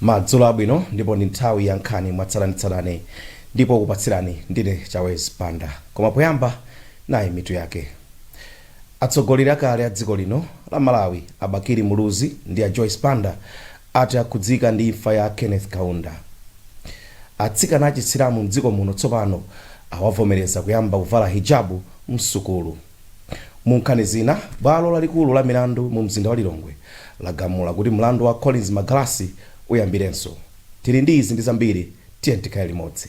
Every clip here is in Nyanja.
madzulo abwino ndipo ndi nthawi ya nkhani mwatsatanetsatane ndipo kupatsirani ndine chawezi banda koma poyamba nayi mitu yake atsogoleri akale a dziko lino la malawi a bakili muluzi ndi a joyce banda Ati akhudzika ndi imfa ya Kenneth Kaunda. Atsikana achisilamu mdziko muno tsopano awavomereza kuyamba kuvala hijabu msukulu. Munkhani zina, bwalo lalikulu la milandu mu mzinda wa Lilongwe lagamula kuti mlandu wa Collins Magalasi uyambirenso. Tili ndi izi ndi zambiri, tiyeni tikhale limodzi.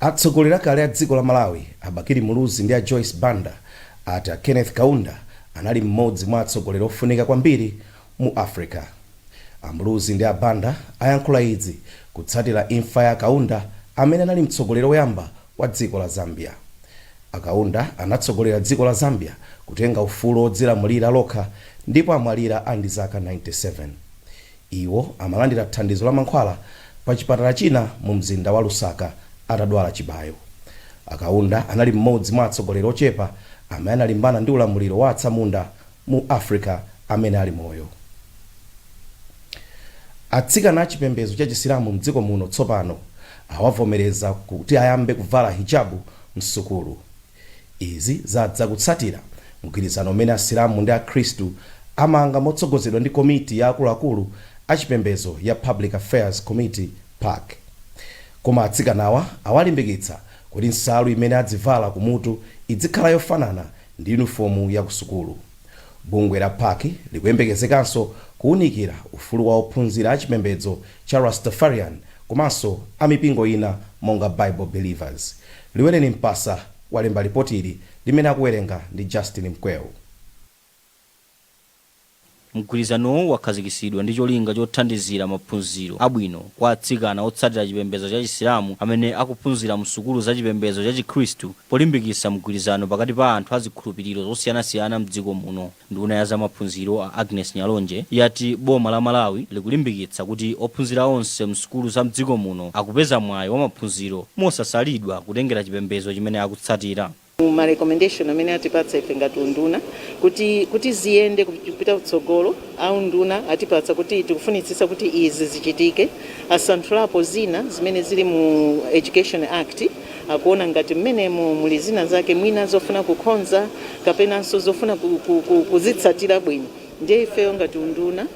Atsogoleri akale a dziko la Malawi, a Bakili Muluzi ndi a Joyce Banda, ati a Kenneth Kaunda anali mmodzi mwa atsogoleri ofunika kwambiri mu Africa. A Muluzi ndi a Banda ayankhula izi kutsatira imfa ya a Kaunda amene anali mtsogoleri oyamba wa dziko la Zambia. A Kaunda anatsogolera dziko la Zambia kutenga ufulu odzilamulira lokha ndipo amwalira ali ndi zaka 97. Iwo amalandira thandizo la mankhwala pa chipatala china mu mzinda wa Lusaka atadwala chibayo. A Kaunda anali m'modzi mwa atsogoleri ochepa amene analimbana ndi ulamuliro wa atsamunda mu Africa amene ali moyo. Atsikana a chipembezo cha chisilamu m'dziko muno tsopano awavomereza kuti ayambe kuvala hijabu m'sukulu. Izi zadza kutsatira mgwirizano umene Asilamu ndi Akhristu amanga motsogozedwa ndi komiti ya akuluakulu a chipembezo ya Public Affairs Committee, pac. Koma atsikanawa awalimbikitsa kuti nsalu imene adzivala kumutu idzikhala yofanana ndi yunifomu ya kusukulu. Bungwe la pac likuyembekezekanso kuunikira ufulu wa ophunzira a chipembedzo cha Rastafarian komanso a mipingo ina monga Bible Believers. Liwereni Mpasa walemba lipoti ili limene akuwerenga ndi Justin Mkweu. Mgwirizanowu wakhazikitsidwa ndi cholinga chothandizira maphunziro abwino kwa atsikana otsatira chipembedzo cha Chisilamu amene akuphunzira msukulu za chipembedzo cha Chikhristu Polimbikitsa mgwirizano pakati pa anthu a zikhulupiriro zosiyanasiyana m'dziko muno, nduna ya zamaphunziro a Agness Nyalonje yati boma la Malawi likulimbikitsa kuti ophunzira onse m'sukulu za m'dziko muno akupeza mwayi wa maphunziro mosasalidwa kutengera chipembedzo chimene akutsatira. Ma recommendation amene atipatsa ife ngati unduna kuti kuti ziyende kupita kutsogolo, a unduna atipatsa kuti tikufunitsitsa kuti izi zichitike, asanthulapo zina zimene zili mu Education Act. akuona ngati mmenemo muli zina zake mwina zofuna kukhonza kapenanso zofuna ku- ku- ku- kuzitsatira bwino ndiye ifeyo ngati unduna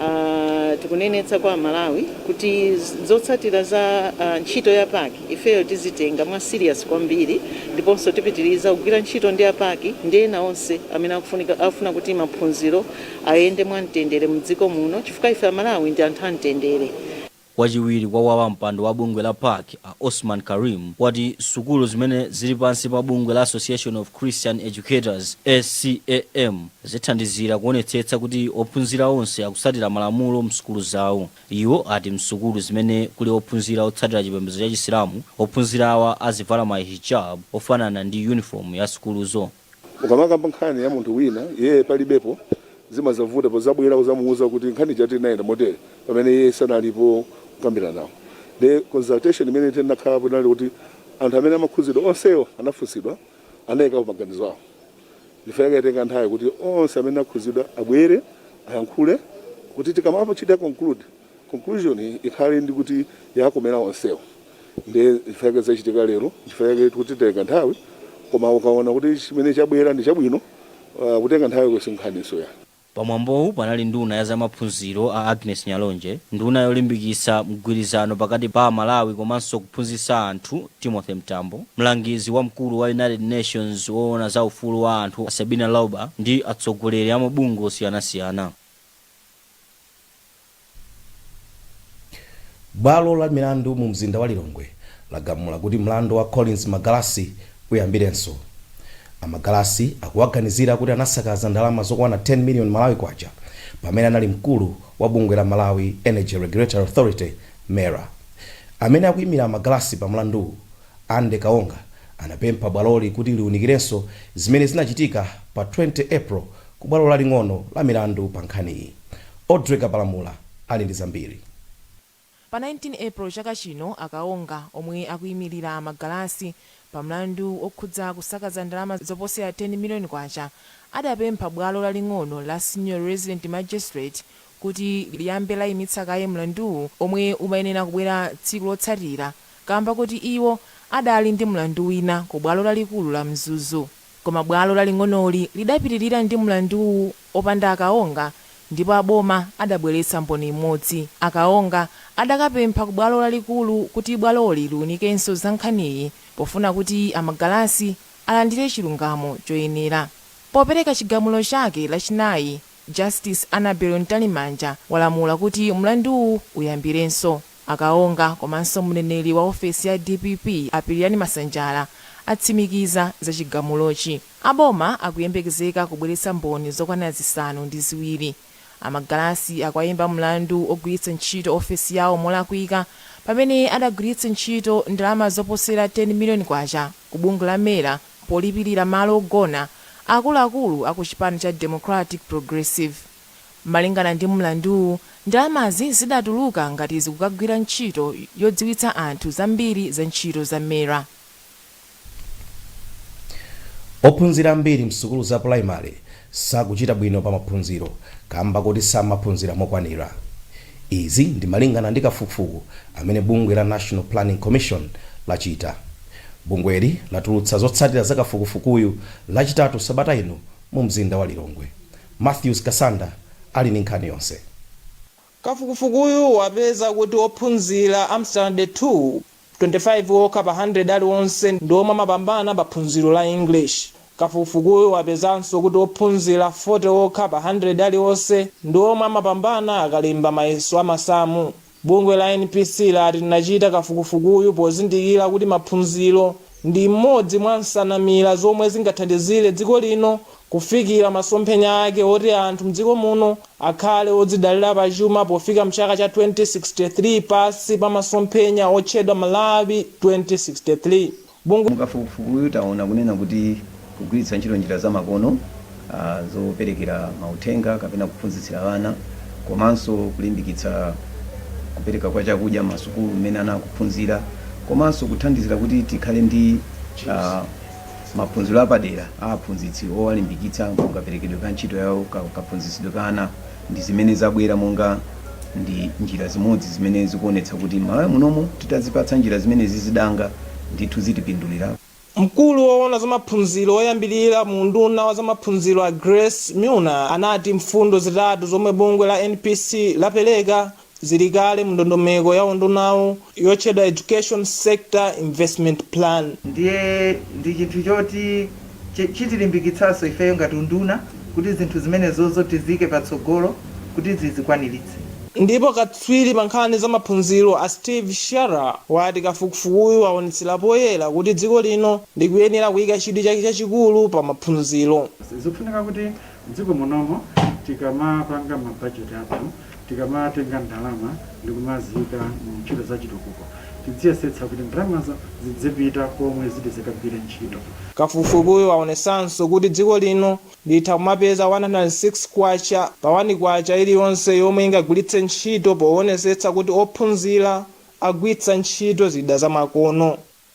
ah, tikunenetsa kwa amalawi kuti z- zotsatira za ah, ntchito ya PAC ifeyo tizitenga mwa serious kwambiri ndiponso tipitiriza kugwira ntchito ndi a PAC ndi ena onse amene akufunika- afuna kuti maphunziro ayende mwa mtendere mdziko muno chifukwa ife amalawi ndi anthu a mtendere Wachiwiri kwa wapampando wa bungwe la PAC a Osman Karim wati sukulu zimene zili pansi pa bungwe la Association of Christian Educators, ACEM, zithandizira kuonetsetsa kuti ophunzira onse akusatira malamulo msukulu zawo. Iwo ati msukulu zimene kuli ophunzira otsatira chipembedzo cha chisilamu, ophunzirawa azivala ma hijab ofanana ndi uniform ya sukuluzo. Ukamakamba nkhani ya munthu wina iyeyo palibepo, zimazavuta pozabwela kuzamuuza kuti nkhani ija tinayenda motele pamene iye sanalipo kukambilanawo. Nde consultation imene tinakhalapo inali yoti anthu amene amakhuzidwa onsewo anafunsidwa, anaikapo maganizo awo. Nchifukwa chake yatenga nthawi kuti onse amene akhuzidwa abwele, ayankhule kuti tikamachita conclude, Conclusion ikhale ndi kuti yakomera onsewo ndiye chifukwa chake zachitika lero nchifukwa chake titi titenga nthawi koma ukaona kuti chimene chabwera ndi chabwino kutenga nthawiko si nkhaninso ya. Pamwambowu panali nduna ya zamaphunziro a Agnes Nyalonje, nduna yolimbikitsa mgwirizano pakati pa aMalawi komanso kuphunzitsa anthu Timothy Mtambo, mlangizi wamkulu wa United Nations woona za ufulu wa anthu a Sabina Lauber ndi atsogoleri a mabungwe osiyanasiyana. Bwalo la milandu mu mzinda wa Lilongwe lagamula kuti mlandu wa Collins Magalasi uyambirenso. A Magalasi akuwaganizira kuti anasakaza ndalama zokwana 10 million Malawi Kwacha pamene anali mkulu wa bungwe la Malawi Energy Regulatory Authority, MERA. Amene akuimira a Magalasi pa mlanduwu, Andy Kaonga anapempha bwaloli kuti liunikirenso zimene zinachitika pa 20 April ku bwalo laling'ono la milandu pa nkhaniyi. Audrey Kapalamula ali ndi zambiri. Pa 19 April chaka chino, a Kaonga omwe akuimilira a Magalasi pa mlandu wokhudza kusakaza ndalama zoposera K10 million, adapempha bwalo laling'ono la Senior Resident Magistrate kuti liyambe laimitsa kaye mlanduwu omwe umayenera kubwera tsiku lotsatira. kaamba koti iwo adali ndi mlandu wina ku bwalo lalikulu la Mzuzu. Koma bwalo laling'onoli lidapitilira ndi mlanduwu popanda a Kaonga ndipo a boma adabweletsa mboni imodzi. A Kaonga adakapempha ku bwalo lalikulu kuti bwaloli liunikenso za nkhaniyi pofuna kuti a Magalasi alandire chilungamo choyenera. Popeleka chigamulo chake Lachinayi, Justice Annabel Mtalimanja walamula kuti mlanduwu uyambirenso. A Kaonga komanso mneneri wa ofesi ya dpp a Pilirani Masanjala atsimikiza za chigamulochi. A boma akuyembekezeka kubweretsa mboni zokwana zisanu ndi ziwiri. A Magalasi akuwaimba mlandu ogwiritsa ntchito ofesi yawo molakwika pamene adagwiritsa ntchito ndalama zoposera K10 million ku bungwe la MERA polipirira malo ogona akuluakulu aku chipani cha Democratic Progressive. Malingana ndi mlanduwu, ndalamazi zidatuluka ngati zikukagwira ntchito yodziwitsa anthu zambiri za ntchito za mera. Ophunzira ambiri msukulu za primary sakuchita bwino pa maphunziro kamba kuti samaphunzira mokwanira. Izi ndi malingana ndi kafukufuku amene bungwe la National Planning Commission lachita. Bungweli latulutsa zotsatira za kafukufukuyu lachitatu sabata ino mu mzinda wa Lilongwe. Mathews Kasanda ali ndi nkhani yonse. Kafukufukuyu wapeza kuti ophunzira a m'sitandade 2, 25 okha pa 100 aliwonse ndi omwe amapambana pa phunziro la English. Kafukufukuyu wapezanso kuti ophunzira 40 okha pa 100 alionse ndi omwe amapambana akalemba mayeso a masamu. Bungwe la NPC lati linachita kafukufukuyu pozindikira kuti maphunziro ndi imodzi mwa nsanamira zomwe zingathandizire dziko lino kufikira masomphenya ake oti anthu mdziko muno akhale odzidalira pa chuma pofika mchaka cha 2063 pansi pa masomphenya otchedwa Malawi 2063 bongo. Mu kafukufukuyu taona kunena kuti kugwiritsa ntchito njira za makono zoperekera mauthenga kapena kuphunzitsira ana komanso kulimbikitsa kupereka kwa chakudya m'masukulu m'mene ana akuphunzira komanso kuthandizira kuti tikhale ndi maphunziro apadera a aphunzitsi owalimbikitsa mkaperekedwe ka ntchito yawo, kaphunzitsidwe ka ana. ndi zimene zabwera monga ndi njira zimodzi zimene zikuonetsa kuti m'Malawi munomu titazipatsa njira zimenezi danga, ndithu zitipindulira. Mkulu woona za maphunziro oyambirira mu unduna wa zamaphunziro a Grace Milner anati mfundo zitatu zomwe bungwe la NPC lapereka zili kale mundondomeko ya undunawu yotchedwa Education Sector Investment Plan. Ndiye ndi chinthu choti chitilimbikitsanso ifeyo ngati unduna kuti zinthu zimenezozo tiziike patsogolo kuti zizikwaniritse. Ndipo katswiri pa nkhani za maphunziro a Steve Sharra wati kafukufukuyu waonetsera poyera kuti dziko lino likuyenera kuika chidwi chake chachikulu pa maphunziro. Zikufunika kuti M'dziko munomo tikamapanga ma budget athu, tikamatenga ndalama ndi kumaziika mu ntchito za chitukuko, tidziyesetsa kuti ndalamazo zidzipita komwe ziti zikagwire ntchito. Kafukufukuyu waonetsanso kuti dziko lino litha kumapeza K106 pa K1 iliyonse yomwe ingagwiritse ntchito powonesetsa kuti ophunzira agwiritsa ntchito zida zamakono.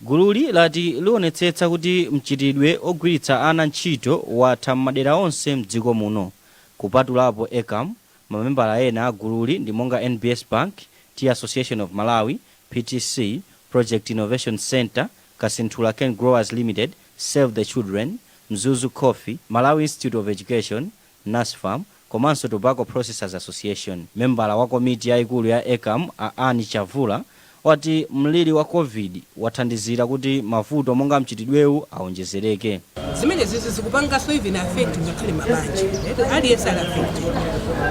Gululi lati lionetsetsa kuti mchitidwe ogwiritsa ana ntchito watha m'madera onse mdziko muno, kupatulapo Ecam, mamembala ena a gululi ndi monga NBS Bank, Tea Association of Malawi, PTC, Project Innovation Centre, Kasinthula Cane Growers Limited, Save the Children, Mzuzu Coffee, Malawi Institute of Education, Nasfam, komanso Tobacco Processors Association. Membala wa komiti yaikulu ya ECAM, a Anne Chavula, wati mliri wa Covid wathandizira kuti mavuto monga mchitidwewu awonjezereke. Zimenezizi zikupanganso even affect ngakhale mabanja eti aliyense ali affected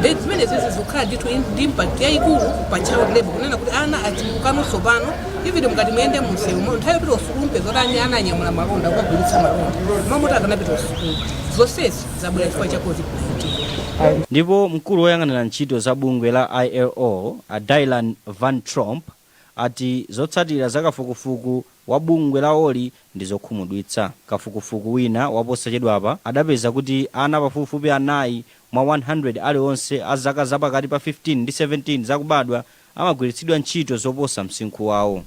then zimenezizi zikukhala ndithu in- ndi impact yayikulu pa child labor kunena kuti ana achulukano tsopano even mukati muyende mumsewumo nthawi yopita kusukulu mupeza kuti ani ana anyamula malonda kukagulitsa malonda mmalo moti akanapita kusukulu zonsezi zabwera chifukwa cha covid-19 Ndipo mkulu woyang'anira ntchito za bungwe la ILO, a Dylan Van Tromp, ati zotsatira za kafukufuku wa bungwe lawoli ndi zokhumudwitsa. Kafukufuku wina wa posachedwapa adapeza kuti ana pafupifupi anayi mwa 100 alionse a zaka zapakati pa 15 ndi 17 zakubadwa amagwiritsidwa ntchito zoposa msinkhu wawo.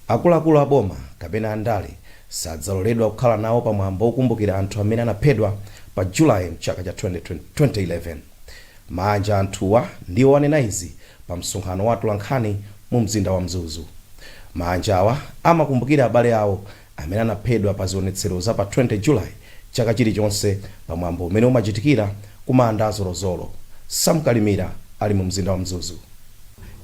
Akuluakulu a boma kapena andale sadzaloledwa kukhala nawo pa mwambo wokumbukira anthu amene anaphedwa pa July m'chaka cha 2011. Maanja a anthuwa ndiwo anena izi pa msonkhano wa atolankhani mu mzinda wa Mzuzu. Maanjawa amakumbukira abale awo amene anaphedwa pa zionetsero za pa 20 July chaka chilichonse pa mwambo umene umachitikira ku manda a Zolozolo. Sam Kalimira ali mu mzinda wa Mzuzu.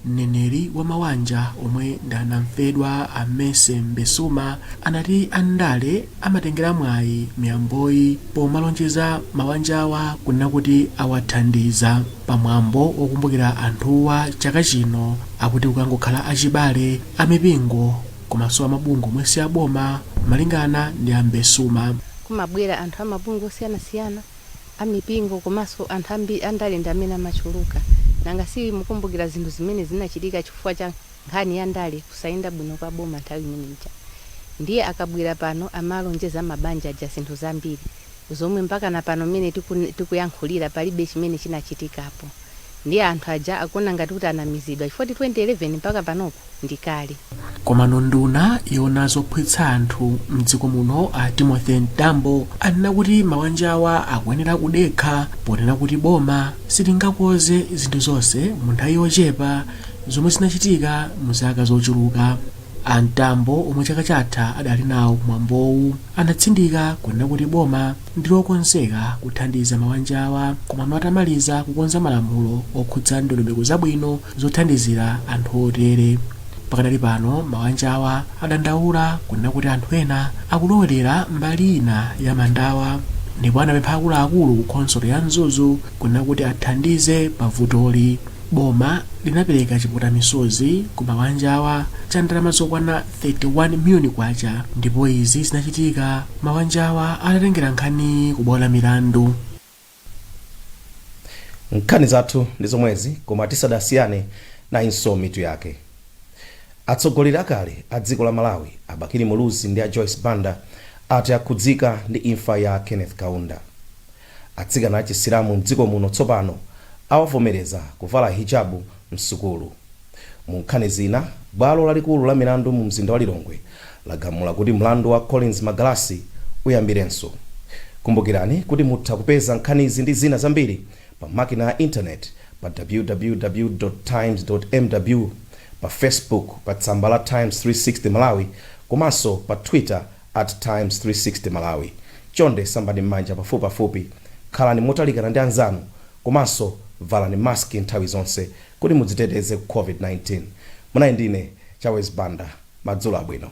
Mneneri wa mawanja omwe ndi anamfedwa a Mercy Mbezuma anati andale amatengera mwayi miyamboyi pomalonjeza mawanjawa kunena kuti awathandiza. Pa mwambo wokumbukira anthuwa chaka chino akuti kukangokhala achibale, amipingo komanso a mabungwe omwe si a boma. Malingana ndi a Mbesuma. kumabwera anthu a mabungwe osiyanasiyana, a mipingo komanso anthu andale ndi amene amachuluka. Nanga si mukumbukira zinthu zimene zinachitika chifukwa cha nkhani ya ndale kusayenda bwino kwa boma nthawi imene ija? Ndiye akabwera pano amalonjeza mabanja aja zinthu zambiri. zomwe mpakana pano mmene tikun tikuyankhulira palibe chimene chinachitikapo ndiye anthu aja akuona ngati kuti anamizidwa chifukwa 2011 mpaka panopo ndi kale. Komano nduna yoona zogwirizanitsa anthu mdziko muno a Timothy Mtambo anena kuti mawanjawa akuyenera kudekha ponena kuti boma silingakoze zinthu zonse mu nthawi yochepa zomwe zinachitika mu zaka zochuluka. A Mtambo omwe chaka chatha adali nawo kumwambowu anatsindika kunena kuti boma ndi lokonzeka kuthandiza mawanjawa koma atamaliza kukonza malamulo okhudza ndondomeko zabwino zothandizira anthu otere. Pakadali pano mawanjawa adandaula kunena kuti anthu ena akulowelera mbali ina ya mandawa ndipo anapempha akuluakulu ku khonsolo ya Mzuzu kunena kuti athandize pa vutoli. Boma linapereka chiputamisozi ku mawanjawa cha ndalama zokwana K31 miliyoni ndipo izi zinachitika mawanjawa atatengera nkhani ku bwalo la milandu. Nkhani zathu ndi zomwezi koma tisadasiyane nayinso mitu yake. Atsogoleri akale a dziko la Malawi a Bakili Muluzi ndi a Joyce Banda ati akhudzika ndi imfa ya Kenneth Kaunda. Atsikana a Chisilamu m'dziko muno tsopano awavomereza kuvala Hijab m'sukulu. Mu nkhani zina, bwalo lalikulu la milandu mu mzinda wa Lilongwe lagamula kuti mlandu wa Collins Magalasi uyambirenso. Kumbukirani kuti mutha kupeza nkhanizi ndi zina zambiri pa makina ya internet pa www. Times. mw, pa Facebook pa tsamba la Times 360 Malawi komanso pa Twitter. at Times 360 Malawi. Chonde sambani m'manja pafupipafupi, khalani motalikana ndi anzanu komanso valani mask nthawi zonse kuti mudziteteze ku COVID-19. Munali ndi ine Chawezi Banda. Madzulo abwino.